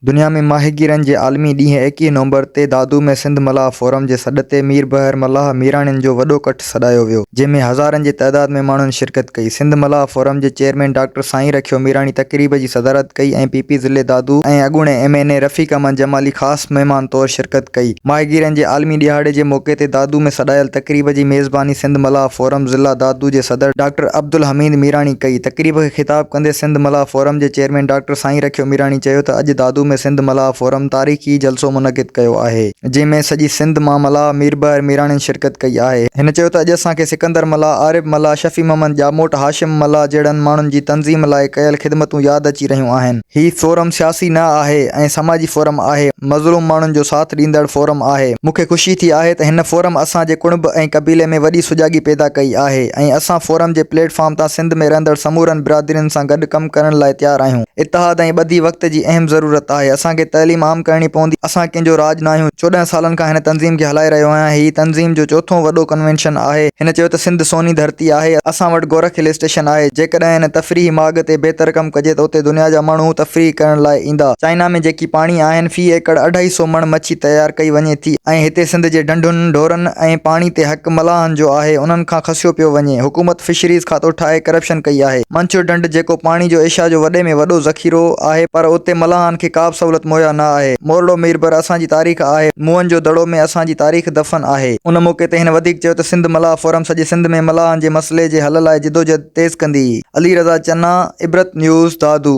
دنيا ۾ ماهيگيرن جي عالمي ڏينهن ايڪيهه نومبر تي دادو ۾ سنڌ ملاح فورم جي سڏ تي مير بحر ملاح ميراڻين جو وڏو ڪٺ سڏايو ويو جنهن ۾ هزارن جي تعداد ۾ ماڻهن شرڪت ڪئي سنڌ ملاح فورم جي چيئرمين ڊاڪٽر سائين رکيو ميراڻي تقريب جي صدارت ڪئي ۽ پي پي ضلعي دادو ۽ اڳوڻي M N A Rafiq Ahmed Jamali خاص مهمان طور شرڪت ڪئي ماهيگيرن جي عالمي ڏهاڙي جي موقعي تي دادو ۾ سڏايل تقريب جي ميزباني سنڌ ملاح فورم ضلع دادو جي صدر ڊاڪٽر عبدالحميد ميراڻي ڪئي تقريب کي خطاب ڪندي سنڌ ملاح فورم جي چيئرمين ڊاڪٽر سائين رکيو ميراڻي چيو ته اڄ دادو ۾ سنڌ ملاح فورم تاريخي جلسو منعقد ڪيو آهي جنهن ۾ سڄي سنڌ مان ملاح ميربحر ميراڻين شرڪت ڪئي آهي. هن چيو ته اڄ اسان کي سڪندر ملاح، عارب ملاح، شفيع محمد ڄاموٽ، هاشم ملاح جهڙن ماڻهن جي تنظيم لاء ڪيل خدمتون ياد اچي رهيون آهن. هي فورم سياسي نه آهي ۽ سماجي فورم آهي، مظلوم ماڻهن جو ساٿ ڏيندڙ فورم آهي. مون کي خوشي ٿي آهي ته هن فورم اسان جي ڪڻڀ ۽ قبيلي ۾ وڏي سجاڳي پيدا ڪئي آهي ۽ اسان فورم جي پليٽ فارم تان سنڌ ۾ رهندڙ سمورن برادرين سان گڏ ڪم ڪرڻ لاء تيار آهيون. اتحاد ۽ ٻڌي وقت جي اهم ضرورت آهي. اسان کي تعليم عام ڪرڻي پوندي. اسان ڪنهن جو راڄ ناهيون. چوڏهن سالن کان هن تنظيم کي هلائي رهيو آهيان. هي تنظيم جو چوٿون وڏو ڪنوينشن آهي. هن چيو ته سنڌ سوني ڌرتي آهي. اسان وٽ گورک هل اسٽيشن آهي. جيڪڏهن هن تفريحي ماڳ تي بهتر ڪم ڪجي ته اتي دنيا جا ماڻهو تفريح ڪرڻ لاء ايندا. چائنا ۾ جيڪي پاڻي آهن في ايڪڙ اڍائي سو مڻ مڇي تيار ڪئي وڃي ٿي ۽ هتي سنڌ جي ڍنڍن، ڍورن ۽ پاڻي تي حق. حق ملاحن جو آهي انهن کان کسيو پيو وڃي حڪومت فشريز کاتو ٺاهي ڪرپشن ڪئي آهي منڇر ڍنڍ جيڪو پاڻي جو ايشيا جو وڏي ۾ وڏو ذخيرو آهي پر اتي ملاحن کي ڪابه سهولت مهيا نه آهي مورڙو ميربر اسان جي تاريخ آهي موئن جو دڙو ۾ اسان جي تاريخ دفن آهي. ان موقعي تي هن وڌيڪ چيو ته سنڌ ملاح فورم سڄي سنڌ ۾ ملاحن جي مسئلي جي حل لاء جدوجھد تيز ڪندي علي رضا چنا عبرت نيوز دادو.